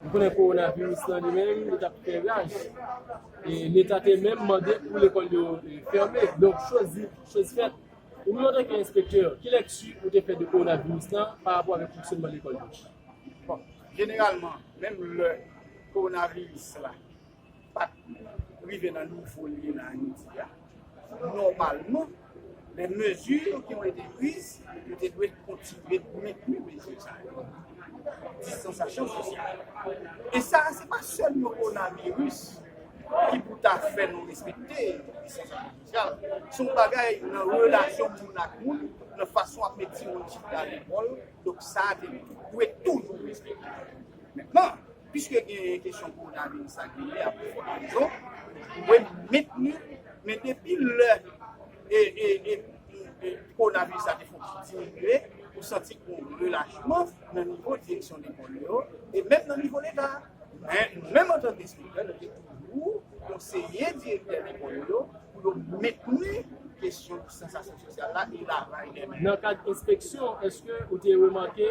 Nou konnen kowona viris lan li menm li tap fè raj e leta te menm mande pou lekòl yo fèmen donk choz di choz fèt ou menm antanke enspektè ki lèkti ou te fè de kowona viris lan pa rapò avèk fonksyonman lekòl yo? Bon jeneralman menm lè kowona viris la. pat rive nan nivo li ye nan Ayiti a nòmalman, men mezi yo ki te priz, yo te dwe kontinye mentni mezi sa yo, distansasyon sosyal. E sa a se pa sèl kowonaviris ki pou ta fè nou respekte distansasyon sosyal, se yon bagay nan relasyon moun ak moun, nan fason wap met timoun chita lekòl, donk sa a te dwe toujou respekte. Piske gen kesyon kowonaviris la ki li a pou fwa prizon, ou dwe mentni, men depi lè kowonaviris la te fon ti diminye, ou santi gen yon relachman nan nivo direksyon lekòl yo, e menm nan nivo Leta a. Men, nou menm antanke enspektè, nou te toujou konseye direktè lekòl yo pou yo mentni kesyon distansasyon sosyal la e lavaj de men. Nan kad enspeksyon, èske ou te remake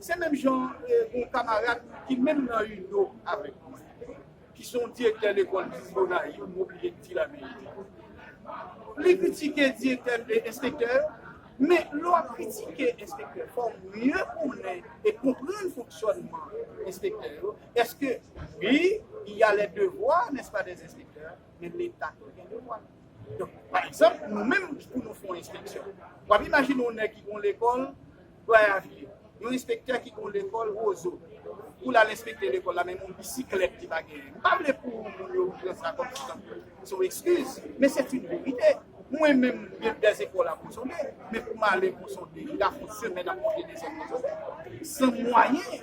Se menm jan yon kamarad ki menm nan UNIO avèk mwen, ki se yon direktè lekòl ki viv Gonayiv, m oblije di laverite. Li kritike direktè e enspektè yo, men lè w ap kritike enspektè, fò w mye konnen e konprann fonksyònman enspektè yo. Èske, wi, il y a les devoirs, n'est-ce pas, des inspecteurs, men Leta tou gen devwa l. Donk, pa egzanp, nou menm pou nou fè yon enspeksyon, w ap imajine yon nèg ki gen yon lekòl, Goyavier, yon enspektè ki gen yon lekòl Roseau, pou l al enspekte lekòl la, menm yon bisiklèt li pa genyen. M pa vle pou moun yo pran sa kòm si tankou se yon ekskiz, men se t yn verite. Mwen menm, gen dè zepòl a Ponsonde, men pou m ale Ponsonde, m ka fè yon semèn ap monte desèn Ponsonde, san mwayen.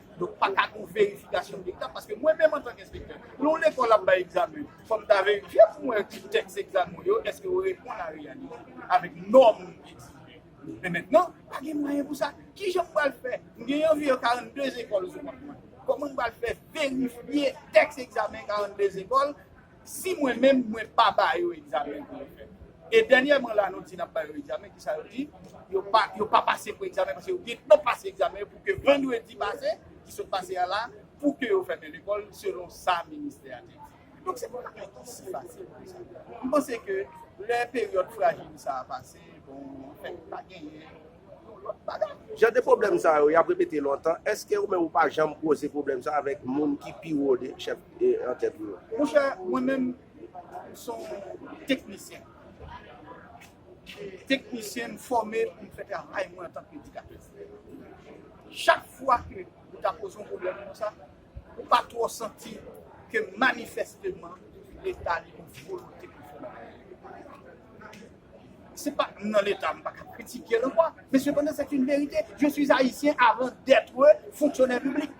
Donk pa ka gon verifikasyon dikta paske mwen menm antank enspektè, lè yon lekòl ap bay egzamen, fò m ta verifye pou mwen ki tèks egzamen w yo èske yo reponn a reyalite, avèk nòm nou egzije. Men mentnan, pa gen mwayen pou sa. Ki jan m pral fè? M gen anviwon 42 ekòl sou kont mwen. Kòman m pral fè verifye tèks egzamen 42 ekòl? Si mwen menm mwen pa ba yo egzamen pou yo fè. E dènyèman la nou di nap ba yo egzamen kisa yo di yo pa yo pa pase pou egzamen paske yo gentan pase egzamen yo pou ke vandredi pase ki sot pase a la pou ke yo fèmen lekòl selon sa ministè a te di. Donk se pa yon bagay ki si fasil konsa. M panse ke lè peryòd frajil sa a pase bon anfen pa genyen Jan de pwoblèm sa yo, y ap repete lontan. Èske ou menm ou pa janm koze pwoblèm sa avèk moun ki pi wo de chèf antèt ou yo? Monchè, mwen menm, m s on teknisyen. Teknisyen, m fòme pou m fè travay mwen antanke edikatè. Chak fwa ke ou ta poze yon pwoblèm konsa, ou pa twò santi ke manifèsteman Leta li gen yon volonte pou l fè bagay. Se pa nan leta m paka kritike l ankò men sepandan c'est une vérité je suis haïtien avant d'être fonctionnaire public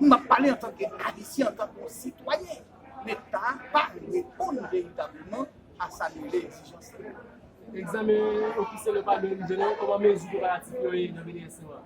m ap pale antanke ayisyen antanke yon sitwayen leta pa reponn veritableman a sa nou rele egzijans la. Egzamen ofisyèl yo pa menm jan non, kòman mezi preparatif yo ye nan BDSM an?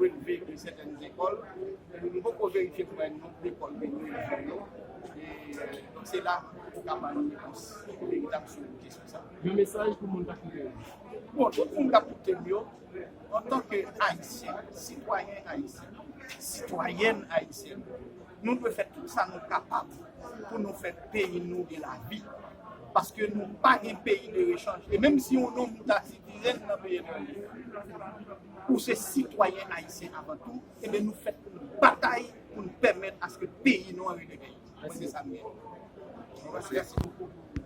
relve de sètèn zekòl, men nou poko verifye pou wè non lekòl de nou yo yo, donk se la ou ka ba nou repons veritab sou kesyon sa. Yon mesaj pou moun k ap koute nou? Bon, tout moun k ap koute m yo, antanke Ayisyen, sitwayen Ayisyen, sitwayèn Ayisyèn, nou dwe fè tout sa nou kapab pou nou fè peyi nou gen lavi, paske nou pa gen peyi de rechanj, e menm si yon nonm ta sitirèn nan peyi etranje. Ou se sitwayen ayisyen avan tou, enben nou fèt pou n batay pou n pèmèt aske peyi nou an releve. Mwen se sa m gen.